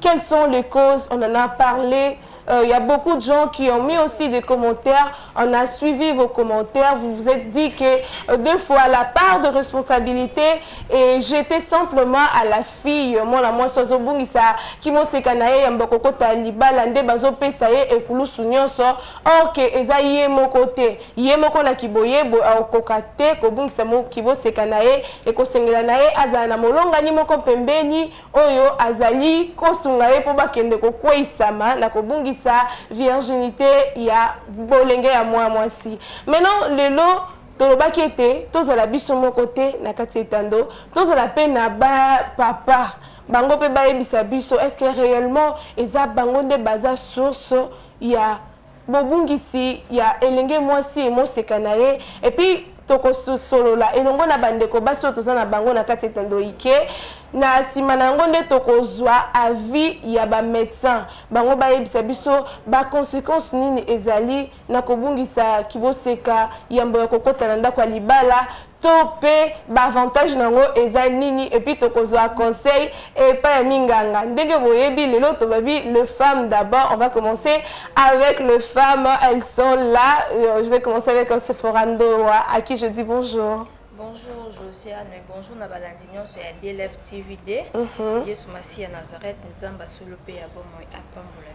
Quelles sont les causes On en a parlé. Il euh, y a beaucoup de gens qui ont mis aussi des commentaires. On a suivi vos commentaires. Vous vous êtes dit que euh, deux fois la part de responsabilité et j'étais simplement à la fille. Moi, la moi, sozo bungisa, qui m'ont sekanaye, yamboko kota libala, nde bazo pesaye et koulou sunyonso. Or que eza yé mon côté. Yé mon kona kiboye, bo au kokate, ko bungisa mo kibo sekanaye, et ko sengelanaye, azana molonga ni moko pembeni, oyo azali kosunga ye mpo bakende kokweisama na kobungisa virginite ya bolenge ya mwa mwasi meno lelo tolobaki ete tozala biso moko te na kati ya etando tozala mpe na ba papa bango mpe bayebisa biso eske réellement eza bango nde baza source ya Bobungisi ya elenge mwasi et moseka na ye et puis tokososolola elongo na bandeko basi oyo toza na bango na kati ya etando ike. Na sima na yango nde tokozua avis ya ba medecins bango bayebisa biso ba consequences nini ezali na kobungisa kiboseka yambo ya kokota na ndako ya libala. to pe ba avantage na ngo eza nini epuis toko zua conseil epa ya minganga ndenge boyebi lelo tobabi le femme d'abord on va commencer avec le femme elles sont là euh, je vais commencer avec euh, Sephora Ndoa à qui je dis bonjour Bonjour Josiane, bonjour na balandi nyonso ya DLF TVD. Mm -hmm. Yesu Masiya Nazareth, Nzamba solo pe ya bomoi apambola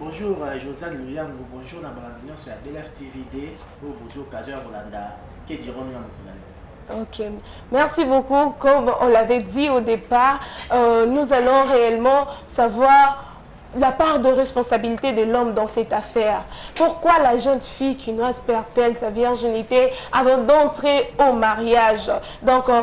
Bonjour euh, Josiane Luyango, bonjour na balandi nyonso ya Belaf TV de oyo bozwi occasion ya kolanda ke diront na mokili Ok, merci beaucoup. Comme on l'avait dit au départ, euh, nous allons réellement savoir la part de responsabilité de l'homme dans cette affaire. Pourquoi la jeune fille kinoise perd-elle sa virginité avant d'entrer au mariage Donc, euh,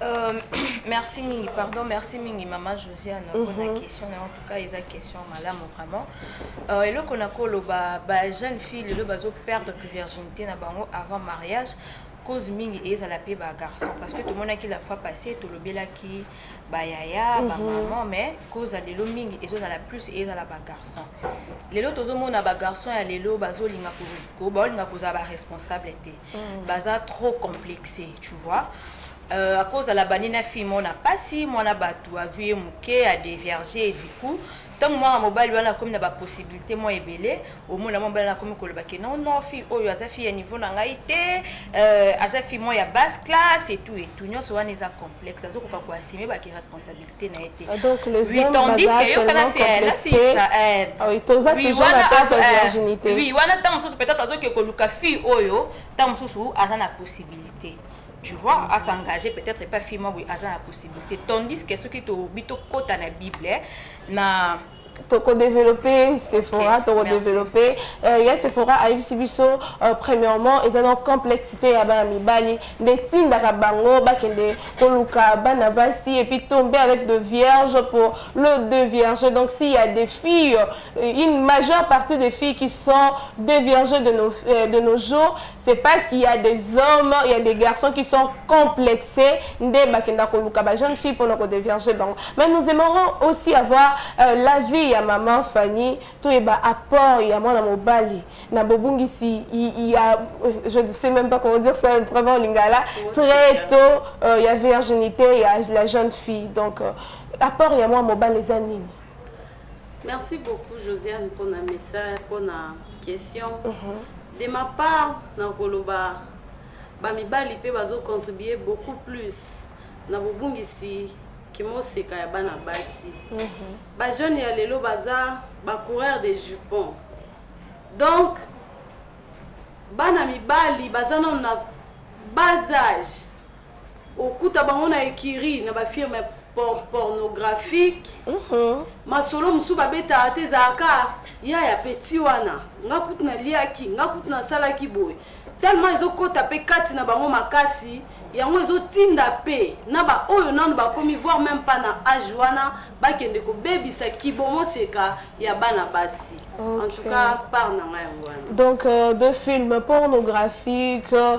Euh, merci mingi pardon merci mingi mama josiane mpona mm -hmm. question na en tout cas eza question malamu vraiment euh, eloko nakoloba bajeune fille lelo bazoperdre virginité na bango avant mariage cause mingi ezala mpe bagarçon parce que tomonaki la fois passé tolobelaki bayaya mhm. bamaman mais cause ya lelo mingi ezozala plus ezala bagarçon lelo tozomona bagarçon ya lelo bazolinga baolinga kozala baresponsable te mm. baza trop complexe tu vois euh, akozala bani na fille mona mpasi mwana bato azwi ye moke adevierge ediku ntango mwana mobali wana akomi na bapossibilité mwa ebele omona mwa mobali wana akomi koloba ke non non fille oyo aza fille ya niveau na ngai te euh, aza fille mwa ya basse classe etout etout nyonso wana eza complexe azokoka koasime baki responsabilité te na ye te ah, donc les hommes baza tellement complexés eh. ah oui toza toujours na place ya eh, virginité oui wana ntango mosusu peut-être azoki koluka fille oyo ntango mosusu aza na possibilité tu vois à s'engager peut-être pas fille moi oui aza na possibilité tandis que soki tobi tokota na bible eh, na tokodeveloppe sephora tokodeveloppe euh, ya sephora ayebisi biso euh, premièrement eza na complexité ya bana mibali nde etindaka bango bakende koluka bana basi epuis tomber avec de vierge pour le deux vierge donc s'il y a des filles euh, une majeure partie des filles qui sont des vierges de nos, de nos jours C'est parce qu'il y a des hommes, il y a des garçons qui sont complexés, nde bakenda koluka ba jeunes filles pona ko déverger bango. Mais nous aimerons aussi avoir euh, la vie ya maman Fanny, to yeba apport ya mwana mobali na bobungisi il y a je ne sais même pas comment dire ça vraiment en lingala, très tôt euh, ya virginité ya la jeune fille. Donc euh, apport ya mwana mobali eza nini? Merci beaucoup Josiane pona message pona question. Uh mhm. -huh. De ma part nakoloba ba mibali pe bazo contribuer beaucoup plus na bobungisi kimoseka ya bana basi. Uh mhm. -huh. Ba jeunes ya lelo baza ba coureurs de jupons. Donc bana mibali baza nano na bas âge Okuta bango na ecurie na ba firmes pornographiques. Uh -huh. Masolo mosusu babetaka te ezalaka ya ya petit wana. Nga kutu naliaki, nga kutu nasalaki boye. Tellement ezokota pe kati na bango makasi, yango ezotinda pe na ba oyo nanu bakomi voir même pas na âge wana bakende kobebisa kibomoseka ya bana basi. Okay. En tout cas, part na nga yango wana. Donc euh, de films pornographiques euh,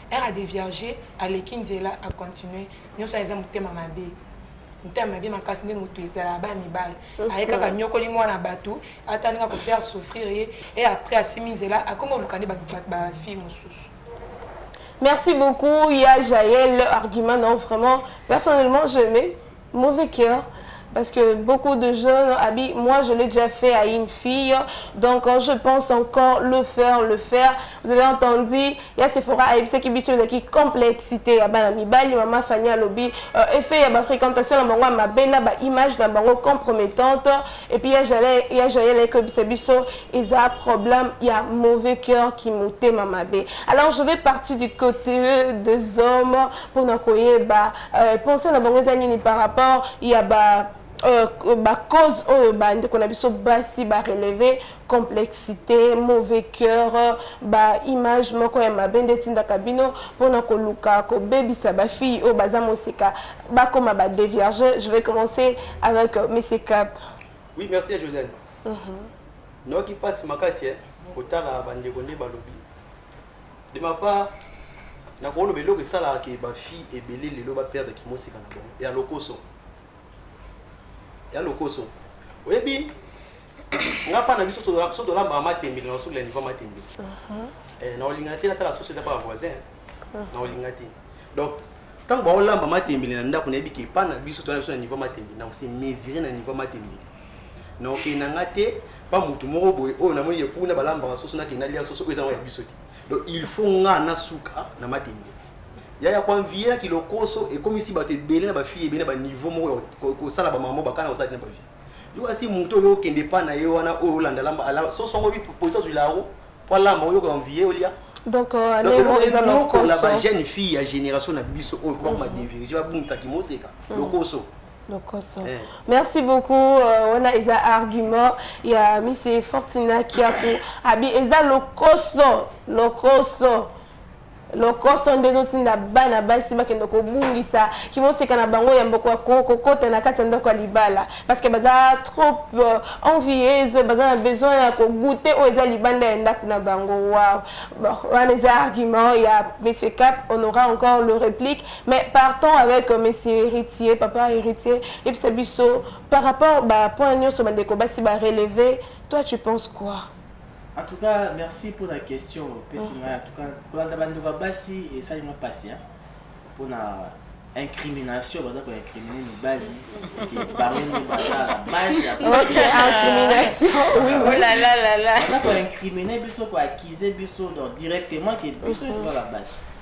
Heure a devierger aleki nzela a continuer nionso wana eza motema mabe motema mabe makasi nde moto ezalaka bana mibali aye kaka nyokoli mwana bato ata ndenge akofaire souffrir ye e après asimi nzela akoma oluka nde bafille mosusu merci beaucoup ya jael argument non vraiment personnellement je aimais Mauvais cœur parce que beaucoup de jeunes abi moi je l'ai déjà fait à une fille donc euh, je pense encore le faire le faire vous avez entendu ya Sephora ayebisaki biso ezalaki complexité ya bana mibali mama Fanny alobi euh, effet ya ba fréquentation na bango ya mabe na ba image na bango compromettante et puis ya Jael ya Jael ayebisa biso eza problème ya mauvais cœur qui motema mabe alors je vais partir du côté des hommes pour na koyeba Euh, pensée na bango eza nini par rapport ya ba Euh, bacause oyo bandeko na biso basi bareleve complexité mauvais cœur baimage moko ya mabe nde etindaka bino mpona koluka kobebisa bafille oyo baza mosika bakoma badevierge je vais commencer avec euh, monsieur cap oui merci ya josène mhm. noki mpasi makasi kotala bandeko nde balobi De ma part, na ko loba eloko esalaka ke ba filles ebele lelo ba perdre ki mosika na bango ya lokoso. Ya lokoso. Oyebi nga pa na biso to so to lamba matembe na sukla niveau matembe. Uh mhm. -huh. Eh na olinga te na tala société pa voisin. Uh mhm. -huh. Na olinga te. Donc ntango baolamba matembele na ndako nayebi ke epai na biso tona biso na niveau matembele na kosi mesure na niveau matembele na okei na nga te pa mutu moko boye oyo namoni ye kuna balambaka soso na kenda lia soso oyo eza ya biso te donc il faut nga na suka na matenge ya ya kuanviela kilokoso ekomisi bato ebele na bafille ebele na baniveau moko ya kosala bamamo bakana kosala tina bavie yokasi moto oyo okende pa na ye wana oyo olanda lamba soso yango polisi azwi laro po alamba oyoka envie olia donc euh, lokola bajeune fille ya génération na biso oyo po bakoma devirige babungisaki moseka mm. lokoso lokoso eh. merci beaucoup euh, wana euh, eza argument ya mise fortina kiaku abi eza lokoso lokoso lokoso nde ezotinda bana basi bakende kobungisa kimoseka na bango ya mboko ya kokota na kati ya ndako ya libala parceke baza trop euh, envieuse baza na besoin ya kogute oyo eza libanda ya ndako na bango waw wana eza argument ya monsieur cap on aura encore le réplique Mais partons avec euh, monsieur Héritier, papa Héritier, yebisa biso par rapport ba points nyonso bandeko basi ba relever, toi tu penses quoi? En tout cas, merci pour la question. Pesi ngai, en tout cas, kolanda bandeko ya basi esali nga pasi hein, mpo na incrimination baza koincrimine mibali ke bango nde baza na base ya Ok, incrimination, oui, Oh oui. là là là là. baza koincrimine biso koaccuse biso donc directement ke biso nde toza na base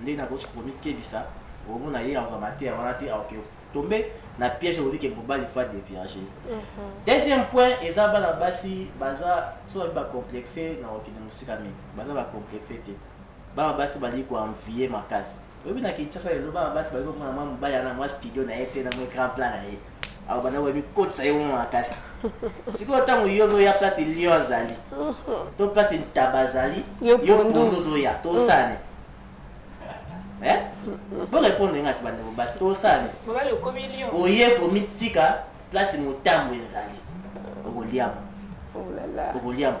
Ndenge na kosi komikebisa omo na ye azwa mateya wana te aoke tombe na piège olobi ke mobali faut devierge mhm. deuxième point eza bana basi baza so babi bacomplexe na kokende mosika mingi baza bacomplexe te bana basi balingi koenvie makasi oyebi na kinshasa lelo bana basi balingi komona mwa mobali yana mwa studio na ye te na mwa grand plan na ye awa banda boye mikotisa ye bongo makasi sikoyo ntango yo ozoya place lion azali to place ntaba azali yo pondu ozoya tosane eh? bo répondre ngati bandeko basi tosane oye komitika place motambo ezali okoliama oh okoliama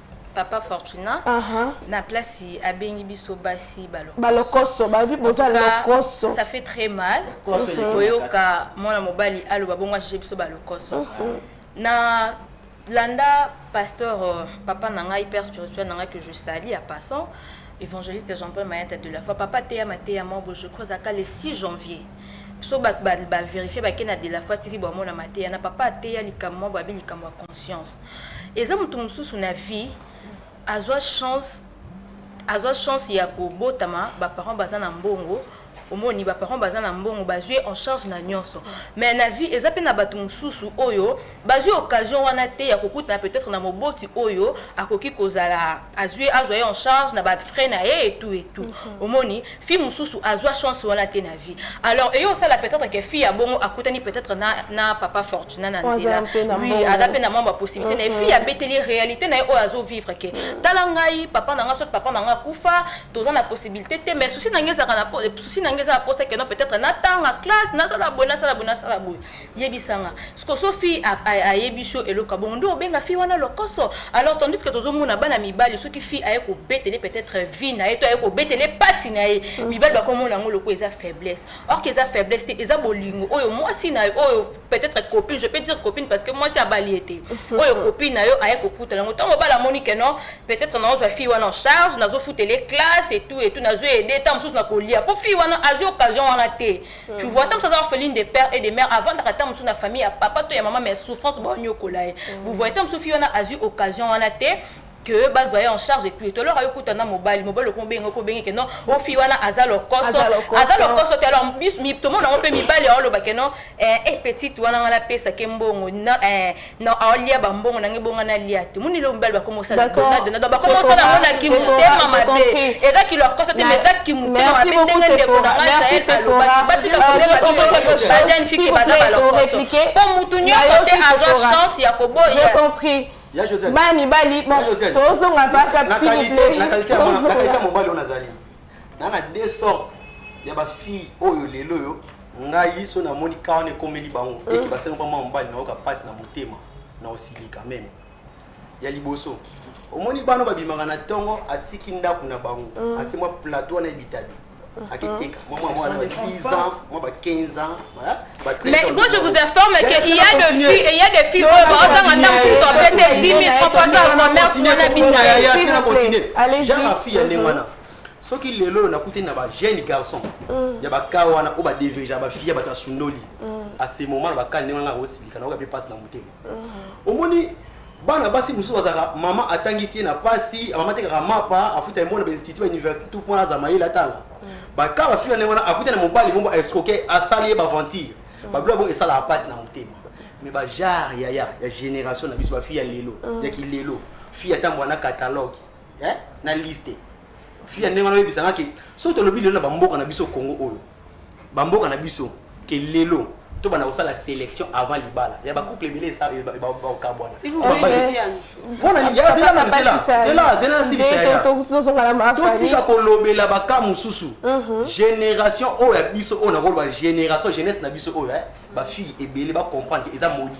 papa fortuna uh -huh. na place abengi biso basi balokoso babi boza lokoso ça fait très mal koyoka mwana mobali aloba bongo ajije biso balokoso uh -huh. na landa pasteur euh, papa na ngai père spirituel na ngai que je sali à passant évangéliste jean-paul mayata de la foi papa teyama teyama obo je crois aka le 6 janvier so bavérifie bakenda de la foi tiki bamona mateya na papa ateya likambo mwa babi likambo ya conscience Eza mutu mususu na vie azua chance azua chance ya kobotama ba parents baza na mbongo omoni ba parents baza na mbongo bazui ye en charge na nionso mais na vie eza pe na batu mususu oyo bazui occasion wana te ya kokutana peut-être na moboti oyo akoki kozala azui azua ye en charge na ba frais na ye et tout et tout omoni fille mususu azwa chance wana te na vie alors eyo osala peut-être que fille ya bongo akutani peut-être na, na papa fortuna na nzela oui aza mpe na mwa bapossibilité na ye fille abeteli ye réalité na ye oyo azo vivre ke mm. tala ngai papa na ngai soki papa na ngai akufa toza na possibilité te mais souci na ngai ezalaka na souci na ngai eza na posa keno peut-être natanga classe nasala boye nasala boye nasala boye yebisa nga siko so fille ayebisi yo eloko ya bongo nde obenga fille wana lokoso alors tandis que tozomona bana mibali soki fille aye kobetele peut-être vie na ye to aye kobetele mpasi na ye mm. mibali bakomona yango lokola eza faiblesse or que eza faiblesse te eza bolingo oyo mwasi na yo oyo peut-être copine je peux dire copine parce que mwasi abali ye te mm-hmm. oyo copine na yo aye kokutana yango ntango mobali amoni ke non peut-être nazozwa fille wana en charge nazofutele classe et tout et tout nazo aide ntango mosusu nakolia mpo fille wana azwi occasion wana te Tu vois, tant que ça orpheline de père et de mère, avant de rater na famille à papa, toi et maman, mais souffrance, bon, nyokolaye. Vous voyez, tant que Sophie, on a eu occasion, on a été, que bas doyen en charge et tout et alors ayo kutana mobali mobali ko benga ko benga que non o fi wana azalo koso azalo koso te alors mi to mona on peut mibali ayo loba que non eh, eh petite wana ngala pesa ke mbongo na eh non aolia bambongo nange bonga nalia te moni lelo mibali bakomosalabakomosala yango na kimotema mabe eza kilo akosa te eza kimotema mabe ndenge ndeko nangabajeune fiki baza balokoso mpo motu nyonso te azwa chance ya koboya bana mibali tozonga bakap s'il vous plaît na na deux sortes ya ba fille oyo lelo yo ngai so na moni ka wana ekomeli bango mm. eki basali kwa mwa mobali nayoka mpasi na motema na osilika meme ya liboso omoni bana babimaka na ntongo atiki ndako na bango mm. ati mwa plateau wana ebitabi mm-hmm. akiteka mwa mwa mwana ba 10 ans mwa ba 15 ans ba 13 mais moi je vous informe que il y a des filles il y a des filles oyo baozanga ntango mosusu apese 10 000 francs mpo aza commerce wana bina ya ya tena continue janga fille ya ndenge wana soki lelo oyo nakutani na ba jeune garçon mm. ya bakaa wana oyo badevirgea bafille bato ya sundoli mm. asemoma na bakaa ndenge wana akosilika naoka mpe mpasi na motema mm. omoni bana basi mosusu bazalaka mama atangisi ye na mpasi mama atekaka mapa afuta yango na bainstitut bauniversité tout mpo aza mayele atanga bakaa bafille ndenge wana akuta na mobali moko escroke asali ye baventure babilo yango esalaka mpasi na motema mais bajare yaya ya génération na biso bafille ya lelo ya kilelo fille atambwa na catalogue eh, na liste fille ya ndenge wana oyebisa nga ke soki tolobi lelo na bamboka na biso congo oyo bamboka na biso ke lelo to bana kosala sélection avant libala ya bacouple ebele bakabwana totika kolobela baka mosusu mhm. génération oyo ya biso oyo nakoloba génération jeunesse na biso oyo eh, bafille ebele bacomprendre eza moli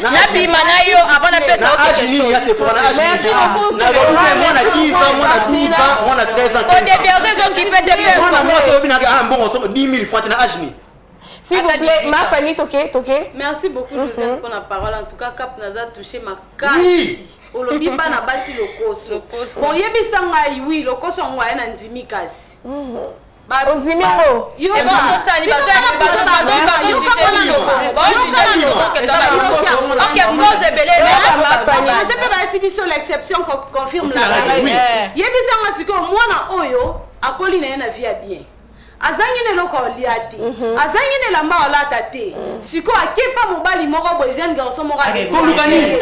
nabima na yo avant napesa odeberge ezokipe te S'il vous plaît, ma famille, toqué, toqué. Merci beaucoup, mhm. Joseph, pour la parole. En tout cas, Cap Naza touché ma carte. Oui. olobi bana basi lokoso boyebisa ngai wi lokoso yango aya na ndimi kasi mhm. ondimi ngope bayesi biso l'exception confirme la règle yebisanga sikoyo mwana oyo akoli na ye na vie ya bien azangi na eloko alia te azangi na elamba alata te sikoyo akepa mobali moko boye jeune garçon moko koluka nini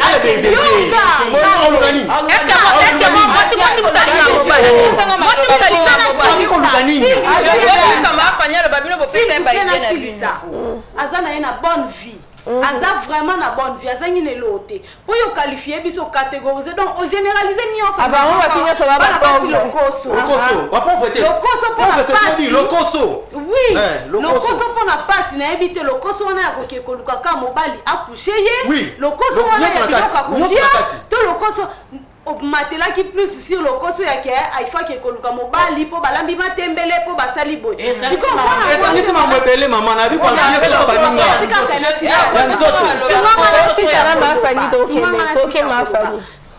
aza na ye na bonne vie aza vraiment na bonne vie azangi na eloo te oyo okalifie biso ocategorise donc ogeneralise nyonso ah, bango basi nyonso babalokoso mpo na mpasi nayebi te lokoso wana ya koke koluka ka mobali akushe ye lokoso wana ya biloko akolia to lokoso obmatelaki plus sur lokoso ya ke aifaki koluka mobali po balambi matembele po basali boye esangisi mambo ebele mama na bi kwamie soso baninga ya nzoto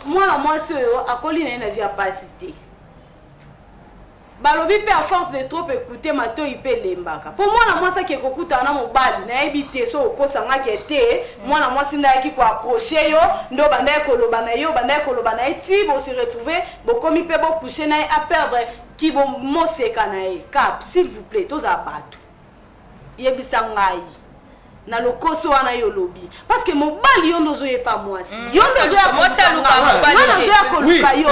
mwana mwasi oyo akoli na ye na vi ya pasi te Balobi pe à force de trop ecouter matoyi pe elembaka. Po mwana mwasi ake kokutana na mobali, nayebi te soki okosa nga ke te, mwana mwasi nde ayaki ko approcher yo, nde obandaki koloba na ye, obandaki koloba na ye tii bo se retrouver, bokomi pe bo coucher na ye, a perdre ki bo moseka na ye. Cap, s'il vous plait, tozala batu. yebisa ngai na lokoso wana yo olobi parce que mobali yo nde ozoyepa mwasi mm. yo nde ozoya koluka yo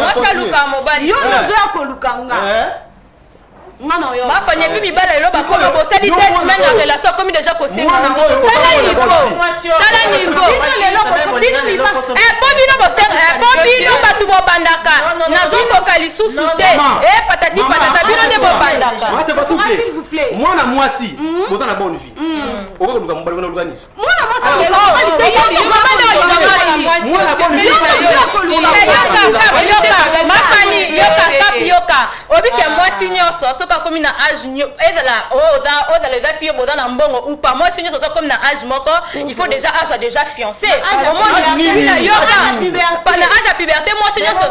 yo nde ozoya koluka nga eh? bafanya epi mibala lelo bakoma bosali te semaine ya relation akomi deja kosengana tala nivotala nivopo bino bosengapo bino bato bobandaka nazokoka lisusu te e patati patata bino nde bobandaka mwana mwasi boza na bonne vie okoki koluka mobali wana oluka nini yoka obiki ya mwasi nyonso soki akomi na age ezala ozala eza fio boza na mbongo upa mwasi nyonso soki akomi na age moko il faut déjà azwa déjà fiancé omona yo pana age ya puberté mwasi nyonso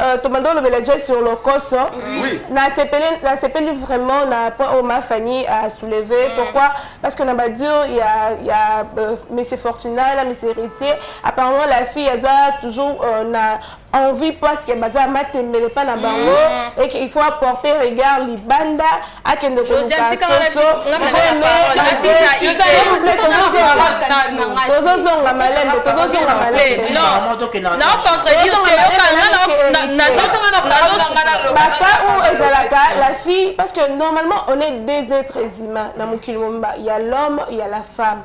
Euh, tobanda olobela déjà sur lokoso nasepeli vraiment na point oyo ma fanny a soulevé mm. pourquoi parce que na badure ya, ya euh, monsieur fortuna na monsieur héritier apparemment la fille aza toujours euh, na envie parce que baza matembele mpa na bango mm. et qu'il faut apporter regard libanda akende tozozonga malembe tozozonga malembebata oyo ezalaka la fille parce que normalement on est deux êtres humains na mokili mobimba ya l'homme ya la femme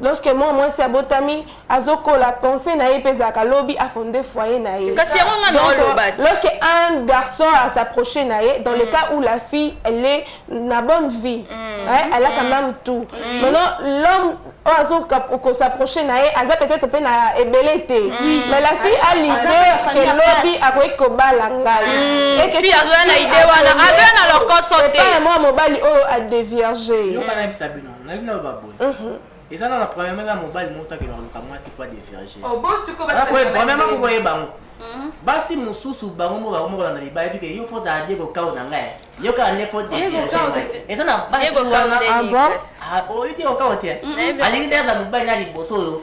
Lorsque mwana mwasi abotami azokola pensee na ye mpe ezalaka lobi afonde foyer na ye. Kasi yango nga na oloba. Lorsque un garçon a s'approcher na ye dans le cas où la fille elle est na bonne vie, mm. hein, elle a quand même tout. Mm. Maintenant l'homme oyo azoka kosaproche na ye aza peut-être mpe na ebele te mm. mais la fille a l'idée ke lobi akoki kobala ngai mm. ekefi azoya na idée wana azoya na lokoso te mwa mobali oyo adevierge nalingi naloba boye mhm. eza na na premièrement na mobali moko takende koluka mwasi po adevirage oh, premièrement moko ye bango mhm. basi mosusu bango moko bango moko landa mibali bike yo fo ozala diego kao na ngai yo kaka nde fo eza na basi wana ah ah, oyo diego kao te alingi nde aza mobali na liboso oyo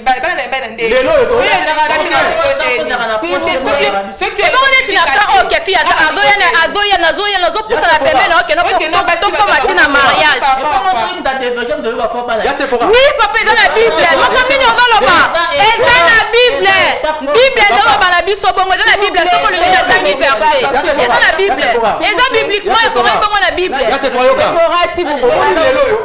balabala na yambai na ndenge lelo oyo tosoki neti na ka oyo kefi ata azoya na azoya nazoya nazopusa na pembe na okenda tokoma ti na mariage oui papa eza na bible moko nini ozoloba eza na bible bible ezoloba na biso bongo eza na bible soki olingi natangi verse eza na bible eza bibliquement ekomai bongo na bible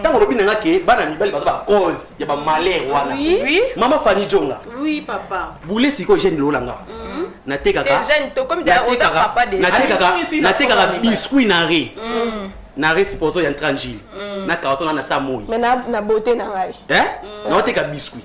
ntango olobi na nga ke bana mibali baza bacause ya bamalheur wana mama fani jonga bule sikoyo jeune lola nga mm. natekaka biscuit na re mm. na re sipozo ya ntrangile mm. na carton na nasa moi na beauté na ngai eh? naoteka biscuit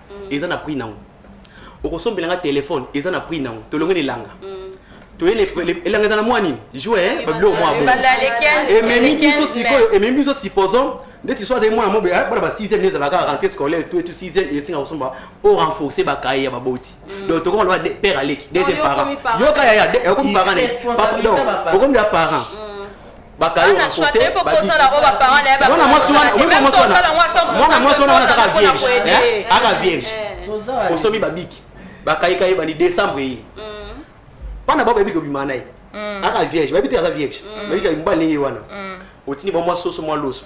mm. eza na prix nango okosombela nga telefone eza na prix nango tolongi na elanga mm. toyele elanga eza na mwa nini joue babilo mwa ememi biso sikoyo ememi biso supposons ndeti so azali mwana mobe eh, bana ba 6e nde ezalaka rentrée scolaire tout etu 6e esenga kosomba o renforcer bakaye ya baboti mm. donc tokoma loba père aleki deuxième parent yoka yaya okomi parent okomi ya parent mm. bana swate po kosala oyo baparent na ye mwana mwasi wana omema mwasi wana mwana mwasi wana wana azaka vierge eh? aka vierge eh. osomi babiki bakaika ye bani décembre ye mm. bana bao bayebi kobima na ye mm. aka vierge bayebi te aza vierge mm. bayebi kobima ndenge ye wana otindi ba mwa soso mwa loso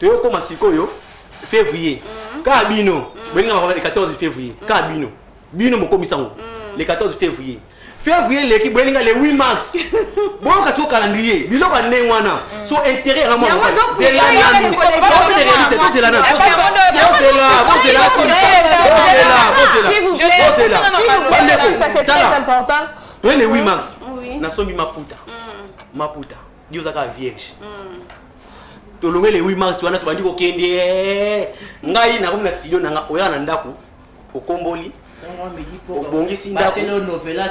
toyokoma sikoyo février mm. kaka bino mm. bolinga makambo le 14 février mm. kaka bino bino mokomisa yango le 14 février février eleki boyelinga le 8 mars boyoka siko calendrier biloko ya ndenge wana so intérêt yango mokazela nanu bozela réalité tozela nanu bozela bozela bozela bozela bandeko tala le 8 mars nasombi maputa maputa yo oza kaka vierge mm. tolongwe le 8 mars wana tobandi kokende eh. ngai nakomi na studio nanga oya na ndako okomboli obongisi ndako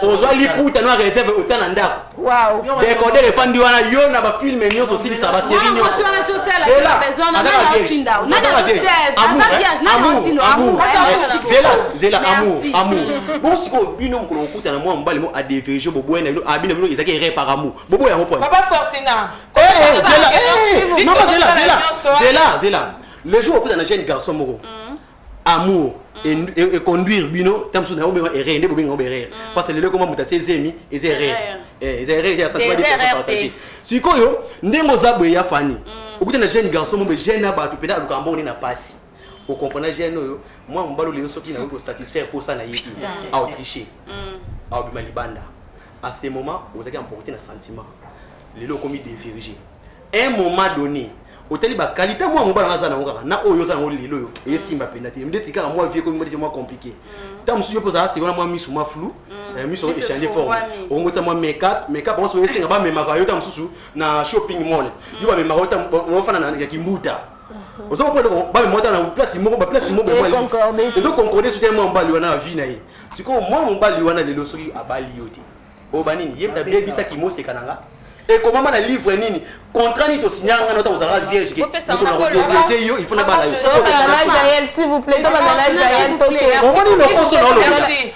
ozwa liputa no reserve otya na ndako dekodere efandi wana yo na bafilme nyonso osilisa baserie nyonsozela amour amour bongo sikoyo bino mokolo kokutana mwa mobali mo adeverige bobwena bino abina bino ezalaki erreur par amour bobo yango pona papa fortina eh, eh, zela eh, mama zela zela zela zela le jour okuta na jeune garçon moko mm. amour mm. econduire bino ntango mosusu na yango benga erreur nde bobenga yango erreur mm. parce que lelo ekoma moto asi ezemi eza erreur eza erreur eza sapartage sikoyo ndenge oza boye ya fani okuta na jeune garçon moko jeune na bato mpenza alukaka mbongo nde na mpasi o comprendre jeune oyo mwa mobali lelo soki nakoki kosatisfaire mposa na ye te mm. aotriche mm. aobima libanda à ce moment ozalaki emporte na sentiment lelo okomi devirige un moment donné otali bakalite mwa mobali wana aza nango kaka na oyo oza nango lelo oyo esimba mm. mpenza te ndeti kaka mwa vie ekomi mwa mwa compliqué ntango mosusu yo mpo ozala sekona mwa misu mwa flou Eh, miso yango echange forme okongotisa mwa makeup makeup yango soki esenga bamemaka yo ta mosusu na shopping mall yo bamemaka yo ofanda ya kimbuta ozo comprendre ko bana mwata na place moko ba place moko mwa liste ezo concorder soutien mwa mbali wana vie na ye sikoyo mwa mobali wana lelo soki abali yo te oyo banini ye mta bebisaki moseka na nga ekomama na livre nini contrat nini tosinya nga nota kozala vierge ke mokonakodeviege yo il faut na bala yo omoni lokoso na olobi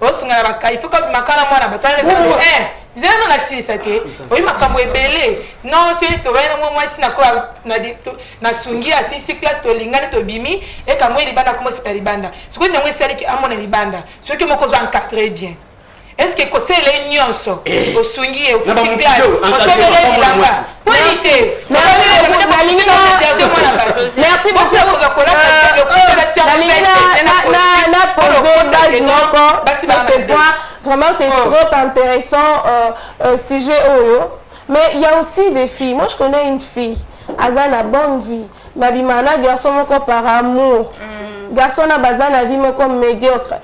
osunga na bakai fo kabima kala mwana batala eh, zela no nasilisa te ah, oyi makambo ebele non soki tobali na mwa mwasi nakoya nasungi asilisi classe tolingani tobimi ekambo ye libanda komosika libanda soki ntango esaliki amona libanda soki moko ozwa encadre bien est ce que kosele nyonso eh. osungi ye ofuti classe osobele bilamba merci beaucoup vraiment c'est oh. trop intéressant euh, euh, sujet oyo oh, mais il y a aussi des filles moi je connais une fille aza na bonne vie babima na garçon moko par amour mm. garçon na baza na vie moko médiocre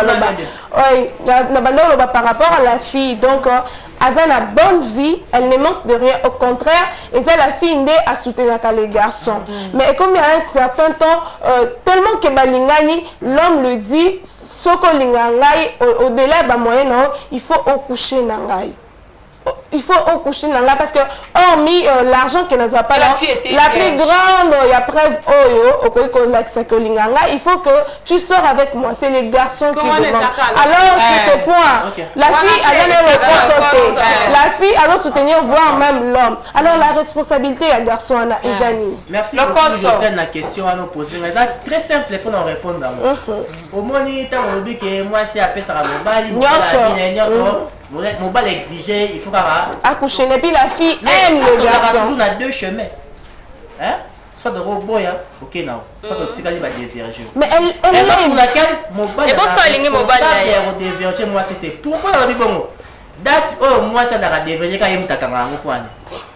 aloba na banda oloba par rapport à la fille donc euh, aza na bonne vie elle ne manque de rien au contraire eza la fille nde asoutenaka les garçons mm. mais ekomi à un certain temps euh, tellement que balingani l'homme le dit soki olinga ngai au-delà ya bamoyen na yo il faut okouche na ngai il faut au coucher nanga parce que hormis euh, l'argent que nazwa pas la, la plus grande euh, ya preuve oyo oh, okoki kolakisa que olinga nga il faut que tu sors avec moi c'est les garçons qui demandent alors c'est ce point okay. la fille aza na reponse te la fille azo soutenir voire même l'homme alors la responsabilité ya garçon wana eza nini merci beaucoup josiane na question wana opose nga eza très simple mpo na orépondre yango omoni ntango olobi ke mwasi apesaka mobali mobali nyonso mobali exige il faut kaka accoucher et puis la fille aime le garçon toujours na deux chemins hein soit de boya ok na soit de mm. tikali ba diverger mais elle elle est pour laquelle mobali et bonsoir lingi mobali ya ko diverger moi c'était pourquoi la bibongo date oyo moi ça dara diverger ka yemtaka ngango kwani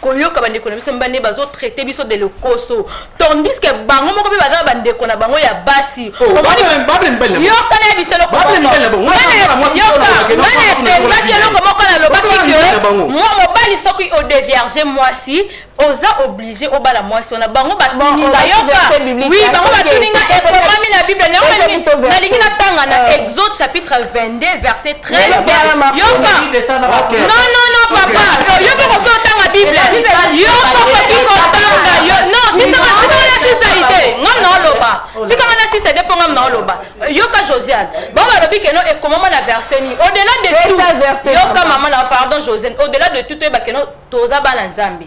koyoka bandeko na biso mibali nde bazotraite biso de lokoso tandis que bango moko mpe baza bandeko na bango ya basi yoka na biso elokobanaepengaki eloko moko nalobaki ke mwa mobali soki odevierge mwasi oza oblige obala mwasi wana bango batuninga yoka wi bango batuninga ekomami na biblia nalingi natanga na exode chapitre 22 verset Très bien. Yoka. Ok. Non, non, non, papa. Yo poko to tanga Bible. Yo poko ki ko tanga yo. Non, si ça va si ça va si ça ide. Ngam na oloba. Si kama na si ça ide po ngam na oloba. Yoka Josiane. Ba ba lobi keno e komama na verset ni. Au-delà de tout. Yoka maman na pardon Josiane. Au-delà de tout to e ba keno toza bana Nzambe.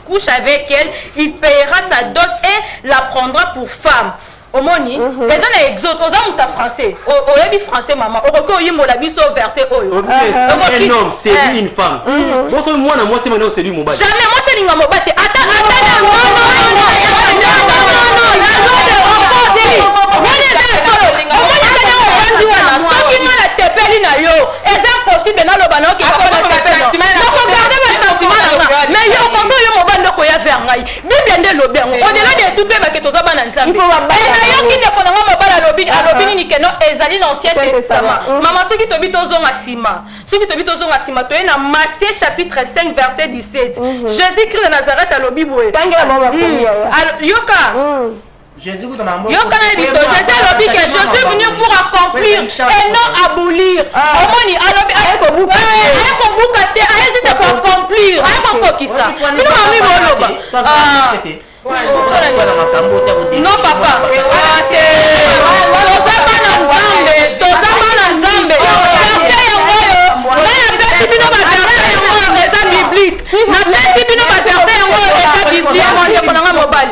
couche avec elle il payera sa dot et la prendra pour femme omoni mhm. eza na exode oza moto ya français oyebi français mama okoki oyimbola biso verset oyo oh, eh. boso mhm. mwana mwasi mane oseli mobali jamais mwasi elinga mobali te ata ata eza impossible naloba nayoki papa na sentiment nakogarde ba sentiment na nga mais yo okomi oyo mobali nde okoya vers ngai bible nde elobi yango odela de tout mpe bake toza bana nzambe nayoki ndeko na nga mobali alobi alobi nini keno ezali na ancien testament mama soki tobi tozonga nsima soki tobi tozonga nsima toye na matthieu chapitre 5 verset 17 jésus christ de nazareth alobi boye yoka yoka na biso jésus alobi ke je suis venu pour accomplir et non abolir ah. omoni alobi aye kobuka aye kobuka te aye juste koaccomplir aye kokokisa bino mami boloba no papa toza bana nzambe toza bana nzambe verse yango oyo ngai napesi bino baverse yango oyo eza biblique napesi bino baverse yango oyo eza biblique ndeko na ngai mobali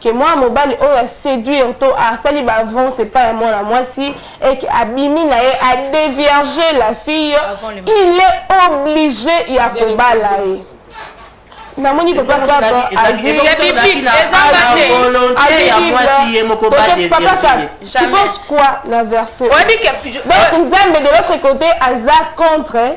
que mwana mobali oyo a seduire to asali ba avance epai ya mwana mwasi et que abimi na ye a devierger la fille il est oblige ya kobala ye namoni papa kaba azwi tu penses quoi na verset donc nzambe de l'autre côté aza contre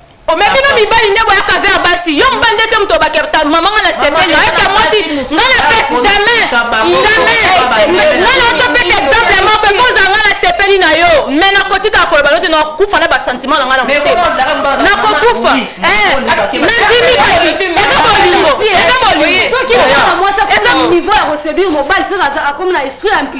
omemi na mibali nde boyaka ver basi yo mobali nde te moto obakerta mama nga na sepeli eske mwasi nga na pesi jamais jamais nga na otopesa exemple ya moko ekozala nga na sepeli na yo me nakotikaka koloba note nakufa na basentiment na nga na motema nakokufa nandimi kasi eza bolingo eza bolingo eza niveau ya koseduire mobali soki akomi na esprit ya mpi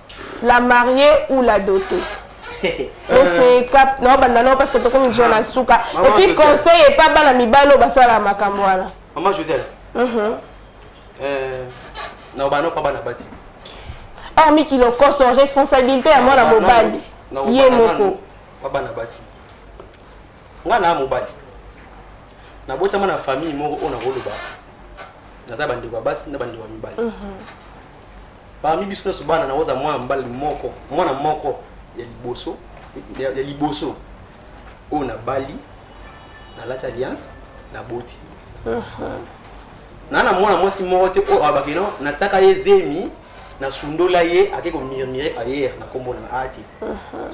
la mariée ou la dotée ese cap na obanda nao parce que tokomi deja na suka et puis conseil epa bana mibali oyo basalaka makambo wana mama joseph mhm. euh, na obanda opa bana basi hormis kilokoso responsabilité ya mwana mobali ye moko bana basi nga na mobali nabotama na famille moko oyo nakoloba naza bandeko ya basi na bandeko ya mibali mhm. Parmi biso nionso bana na oza mwana mobali moko, mwana moko ya liboso ya, ya liboso oyo nabali, nalati alliance, naboti. Uh -huh. na na mwana mwasi moko te oyo alobaki no natiaka ye zemi nasundola ye ake komirmire ayer na nkombo na aa te uh -huh.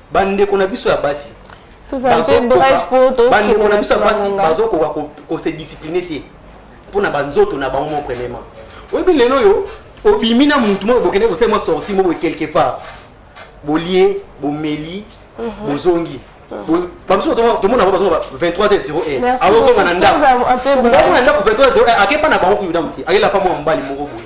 Ba ndeko na biso ya basi. Toza mpe bref po to. Ba ndeko na biso ya basi bazo koka ko se discipliner te. Pona ba nzoto na bango mon premièrement. Oyebi lelo yo obimi na mutu moko bokende ko sema sortie moko quelque part. Bolie, bomeli, mhm. bozongi. Mm bamosusu tomona bango bazonga 23h01 azozonga na ndako azozonga na ndako 23h01 akepa na bango kuyuda moke akela pa mwa mobali moko boye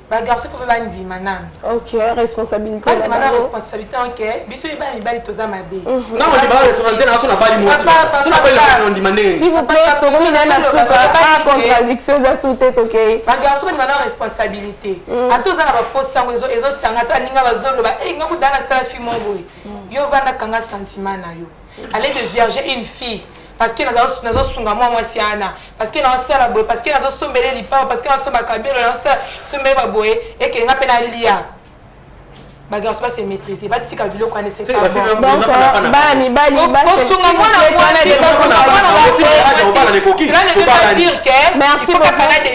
ba garçon faut ba ndima nanu OK responsabilité ba ndima na responsabilité en que biso ye ba mibali toza mabe mhm. na on ba responsabilité na sona bali mwasi sona bali na on ndima ne s'il vous plaît to komi na na suka pas contradiction za sute to ke ba garçon ba ndima na responsabilité mhm. ato za na ba poste sango ezo ezo tanga to aninga ba zolo ba eh ngaku dana sala fi mongo mhm. yo vanda kanga sentiment na yo Allez de vierge une fille parce que nazo sunga mwa mwasi ana parce que nazo sala boye parce que nazo sombele lipa parce que nazo somba kabelo nazo sala sombele ba boye et que nga pe na lia ba garçon ba se maîtriser ba tika biloko ane c'est pas bon donc ba mi ba li ba se sunga mwana mwana de ba ko ba na ko ki ba na dire que merci beaucoup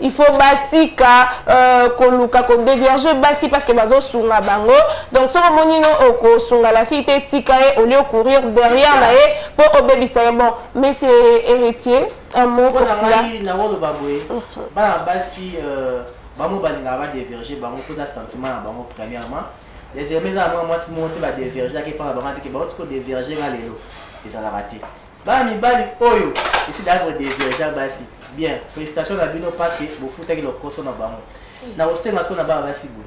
il faut batika euh, koluka kodeverge basi parce que bazosunga bango donc soki omoni no okosunga la fille te tika ye au lieu courir derrière na ye mpo obebisa ye bon monsieur héritier un mot pour cela nakoloba boye mhm. bana basi euh, bango balingaka badeverge bango mpoza sentiment na bango premièrement deuxièmement eza na mwa mwasi moko te badevergeaki epai na bango ateke baotiki kodeverge nga lelo ezalaka te Bana mibali oyo esi da ko divergent basi bien félicitation na bino parce que bofutaki lokoso na bango na kosenga siko na bana basi boye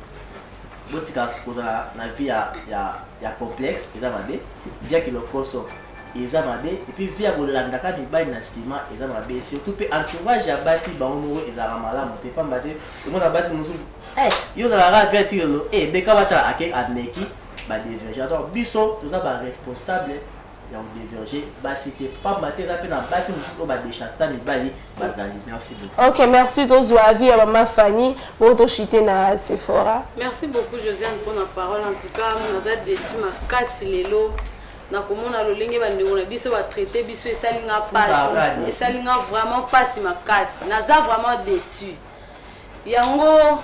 botika kozala na vie ya, ya, ya complexe eza mabe vie ya kilokoso eza mabe epuis vie ya kolandaka mibali na nsima eza mabe surtout mpe entourage ya basi bango moko ezalaka malamu te mpamba te omona basi mosusu eh, yo ozalaka vie ti lelo ebeka eh, batala ake ameki badevergent donc biso toza baresponsable ya ko diverger basi te pamba te eza mpe na basi mosusu oyo badechasta mibali bazali merci beaucoup ok merci tozwa avis ya mama fanny bongo toshite na sephora merci beaucoup josiane mpo na parole en tout cas naza desu makasi lelo nakomona lolenge bandeko na biso batraite biso esali nga mpasi esali nga vraiment mpasi makasi naza vraiment deçu yango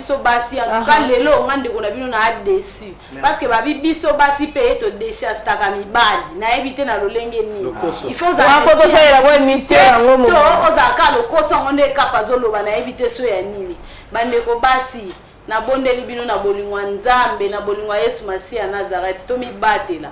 biso basi en tout cas lelo nga ndeko na bino na adesi parce que babi biso basi pe to dechastaka mibali nayebi te na lolenge nini il faut ozakotosalela ko émission yango mo ozalaka lokoso yango nde ekapa azoloba nayebi te so ya nini bandeko basi nabondeli bino na bolingo ya nzambe na bolingo ya yesu masiya nazareth tomibatela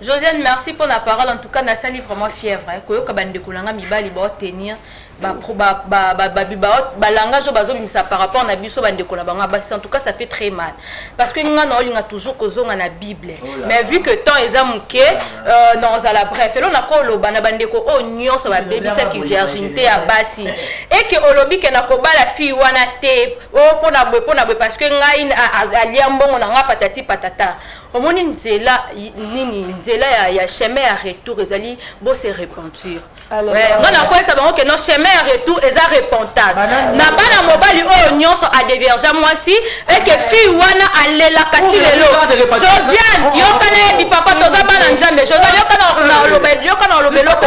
Josiane merci pour la parole en tout cas nasali vraiment fièvre hein. koyoka bandeko na nga mibali baotenir balangage oyo bazobimisa par rapport na biso bandeko na bango ya basi en tout cas ça fait très mal parce que nga naolinga toujours kozonga na bible oh mais vu que temps eza moke euh, naozala bref elo nakoloba na bandeko oyo oh, nyonso babebisaki virginité ya basi eke olobi ke nakobala fille wana te o oh, mpo na boye mpo na boye parce que ngai alia mbongo na ngai patati patata omoni nzela nini nzela ya, ya chemin ya retour ezali bo se repentir nga nakweyisa bango ke no chemin ya retour eza repentance na bana mobali oyo nyonso adevergea mwasi eke fille wana alelaka ti lelo josiane yokana ye bipapa toza bana nzambe josiane yokana oloba eloko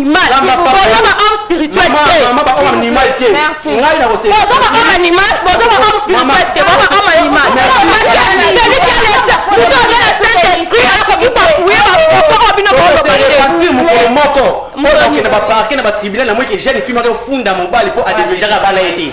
moko mpo nakende baparke na batribunal na moi ke jeune fille moko efunda mobali mpo adevegeaka bana ye te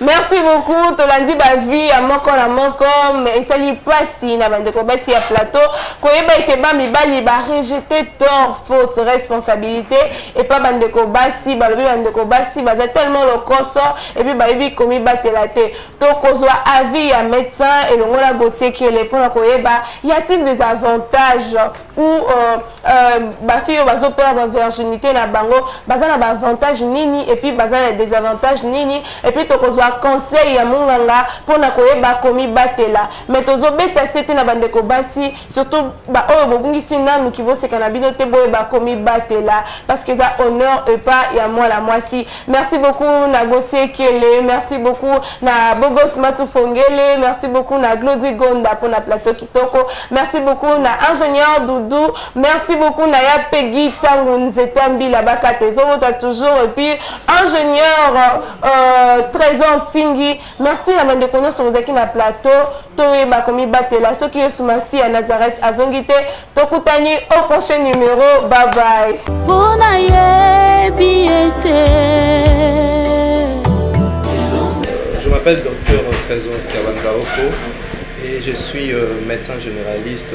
merci beaucoup tolandi bavie ya moko na moko esali mpasi na bandeko basi ya plateau koyeba ete bamibali barejete tor faute responsabilité epa bandeko basi balobi bandeko basi baza tellement lokoso epuis bayebi komibatela te tokozwa avis ya médecin elongo na gotiekele mpona koyeba ya tine des avantages ou euh, euh, basi oyo bazo perdre virginité na bango baza na baavantage nini epuis baza na désavantage nini epuis tokozwa conseil ya monganga mpo na koyeba komibatela mais tozobeta se te na bandeko basi surtout baoyo bobungisi nanu kiboseka na bino te boyeba komibatela parce que eza honneur epa ya mwana mwasi Merci beaucoup na Gauthier Kele, merci beaucoup na Bogos Matufongele, merci beaucoup na Glody Gonda pour na plateau kitoko, merci beaucoup na ingénieur Doudou, merci beaucoup na ya Peggy Tango Nzeta Mbila Bakate Zobota toujours et puis ingénieur euh, Trésor Tingi Merci na bandeko nyonso bozalaki na plateau toyeba komibatela soki yesu masi ya nazareth azongi te tokutani au prochain numero babai mpo nayebi ete Je m'appelle docteur Trésor Kabanzaoko et je suis euh, médecin généraliste